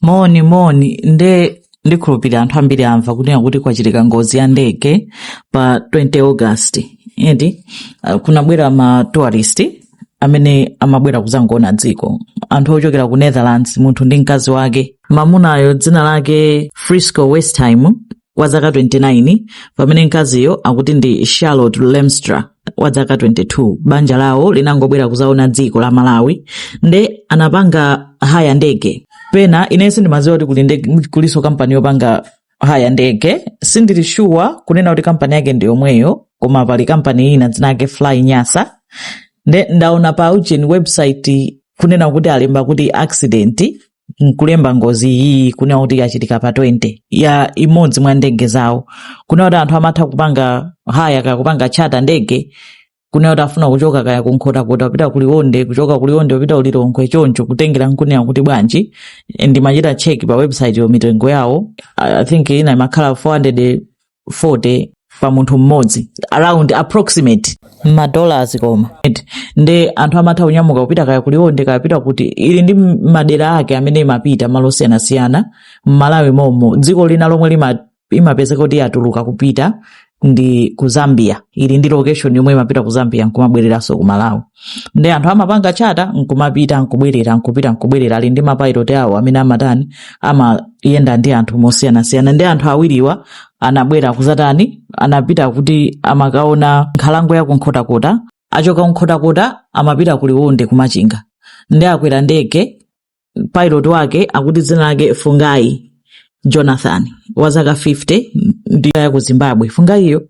moni moni nde ndikhulupirira anthu ambiri amva kunena kuti kwachitika ngozi ya ndege pa 20 august eti uh, kunabwera ma tourist amene amabwera kuzangoona dziko anthu ochokera ku netherlands munthu ndi mkazi wake mamunayo dzina lake frisco westheimer wa zaka 29 pamene mkaziyo akuti ndi charlotte lemstra wa zaka 22 banja lawo linangobwera kuzaona dziko la malawi nde anapanga haya ndege penanso ine sindimadziwa kuti kuli ndege- kulinso kampani yopanga haya ndege sindili shuwa kunena kuti kampani yake ndi yomweyo koma pali kampani ina dzina lake fly nyasa nde ndaona pa ujeni website kunena kuti alemba kuti accident nkulemba ngozi iyi kunena kuti yachitika pa 20 ya imodzi mwa ndege zawo kunena kuti anthu amatha kupanga haya kaya kupanga chata ndege kunena kuti afuna kuchoka kaya kunkhotakota kupita kuliwonde kuchoka kuliwonde kupita kulilongwe choncho kutengera nkunena kuti bwanji ndimachita cheki pa website yo mitengo yawo i think ina imakhala 400 40 pa munthu mmodzi around approximate madollars koma Eti, nde anthu amatha kunyamuka kupita kaya kuliwonde kaya kupita kuti ili ndi m- madera ake amene imapita malo osiyanasiyana mmalawi momo dziko lina lomwe lima- imapezeka kuti yatuluka kupita ndi ku zambia ili ndi location yomwe imapita ku zambia nkumabwereranso ku malawi nde anthu amapanga chata nkumapita nkubwerera nkupita nkubwerera ali ndi mapayiloti awo amene amatani amayenda ndi anthu mosiyanasiyana nde anthu awiriwa anabwera kuzatani anapita kuti amakaona nkhalango ya kunkhotakota achoka kunkhotakota amapita ku liwonde kumachinga nde akwera ndege pilot wake akuti dzina lake fungayi jonathan wa zaka 50 ndi wa ku zimbabwe fungayiyo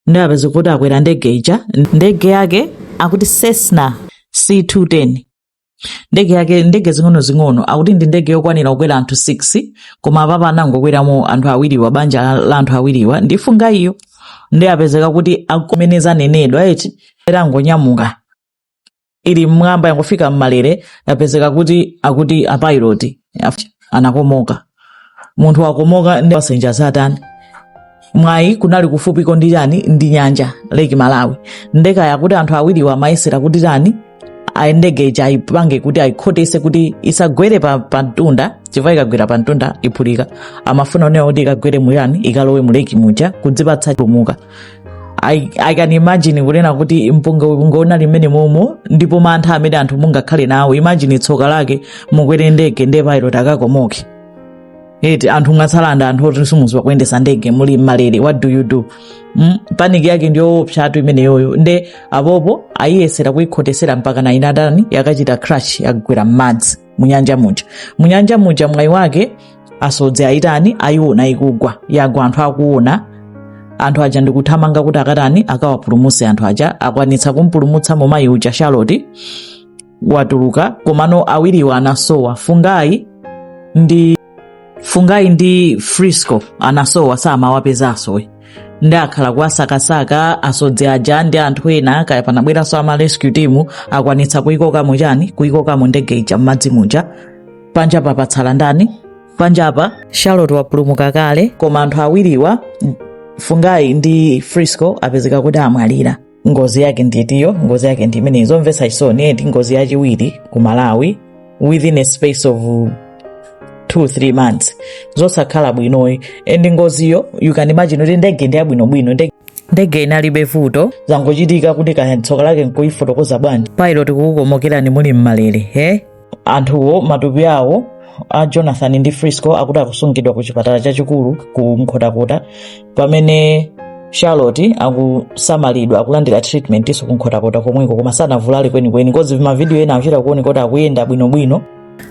nde apezeka kuti akwera ndege ija ndege yake akuti cessna c210 ndege yake ndege zing'onozing'ono akuti ndi ndege yokwanira kukwera anthu 6 koma apapa anangokweramo anthu awiriwa banja la- la anthu awiriwa ndi fungayiyo nde apezeka kuti mmene zanenedwera eti yangonyamuka ili mmwamba yangofika mmalere yapezeka kuti akuti apayiloti anakomoka munthu wakomoka nde pasenja atani mwayi kunali kufupiko ndi chani ndi nyanja lake malawi nde kaya kuti anthu awiriwa amayesera kuti atani ndege ija ayipange kuti ayikhotese kuti isagwere pa, pa mtunda chifukwa ikagwera pa mtunda iphulika amafuna kunena kuti ikagwere mu chani ikalowe mu lake muja kudzipatsa chipulumuka I, i can imagine kunena kuti mpungwepungwe unali mmenemomo ndipo mantha amene anthu mungakhale nawo imagine tsoka lake mukwere ndege nde pilot akakomoke eti anthu mwatsala ndi anthu oti simudziwa kuyendesa ndege muli mmalere what do you do mm? paniki yake ndi yoopsatu imeneyoyo nde apopo ayiyesera kuyikhotesera mpaka inatani yakachita crash yagwera m'madzi munyanja muja munyanja muja mwayi wake asodzi ayitani ayiona ikugwa yagwa anthu akuona anthu aja ndikuthamanga kuti akatani akawapulumutse anthu aja akwanitsa kumpulumutsa mumayi uja charlotte watuluka komano awiriwa anasowa fungayi ndi fungayi ndi frisco anasowa samawapezanso nde akhala kuwasakasaka asodzi aja ndi anthu ena kaya panabweranso ama rescue team akwanitsa kuyikokamo chani kuyikokamo ndege ija m'madzi muja panja papatsala ndani panjapa charlotte wapulumuka kale koma anthu awiriwa fungayi ndi frisco apezeka kuti amwalira ngozi yake ndiyetiyo ngozi yake ndi imeneyi zomvetsa chisoni and ngozi yachiwiri ku malawi within a space of 2-3 months zosakhala bwinoyi and ngoziyo you can imagine kuti ndege ndi yabwinobwino ndege inalibe vuto zangochitika kuti kaya tsoka lake nkuyifotokoza bwanji pilot kukukomokerani muli mmalere he anthuwo matupi awo a jonathan ndi frisco akuti akusungidwa ku chipatala chachikulu ku nkhotakota pamene charlotte akusamalidwa akulandira treatment iso ku nkhotakota komweko koma sanavulale kwenikweni coz mavidiyo ena akuchita kuoneka kuti akuyenda bwinobwino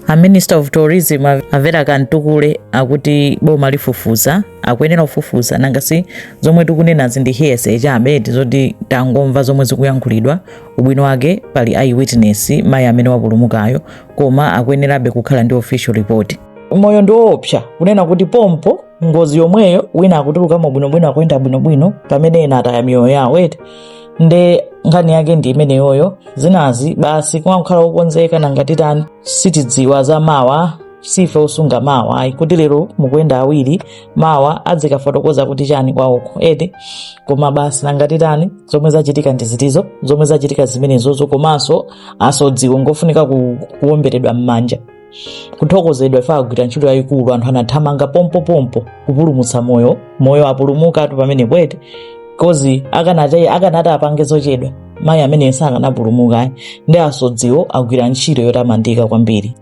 a minister of tourism a Vera Kamtukule akuti boma lifufuza akuyenera kufufuza nanga si zomwe tikunenazi ndi hearsay chabe eti zoti tangomva zomwe zikuyankhulidwa ubwino wake pali eyewitness mayi amene wapulumukayo koma akuyenerabe kukhala ndi official report moyo ndi woopsa kunena kuti pompo ngozi yomweyo wina akutulukamo bwinobwino akuyenda bwinobwino pamene ena ataya miyoyo yawo eti nde nkhani yake ndi imeneyoyo zinazi basi kumakhala wokonzeka nanga titani sitidziwa za mawa sife osunga mawa ayi kuti lero mukuyenda awiri mawa adzikafotokoza kuti chani kwawoko eti koma basi nanga titani zomwe zachitika ndi zitizo zomwe zachitika zimenezozo komanso asodziwo ngofunika ku- kuwomberedwa m'manja kuthokozedwa ife agwira ntchito yayikulu anthu anathamanga pompopompo kupulumutsa moyo moyo apulumukatu pamene bwete coz akanati akanati apange zochedwa mayi amene sakanapulumuka ndi asodziwo agwira ntchito yotamandika kwambiri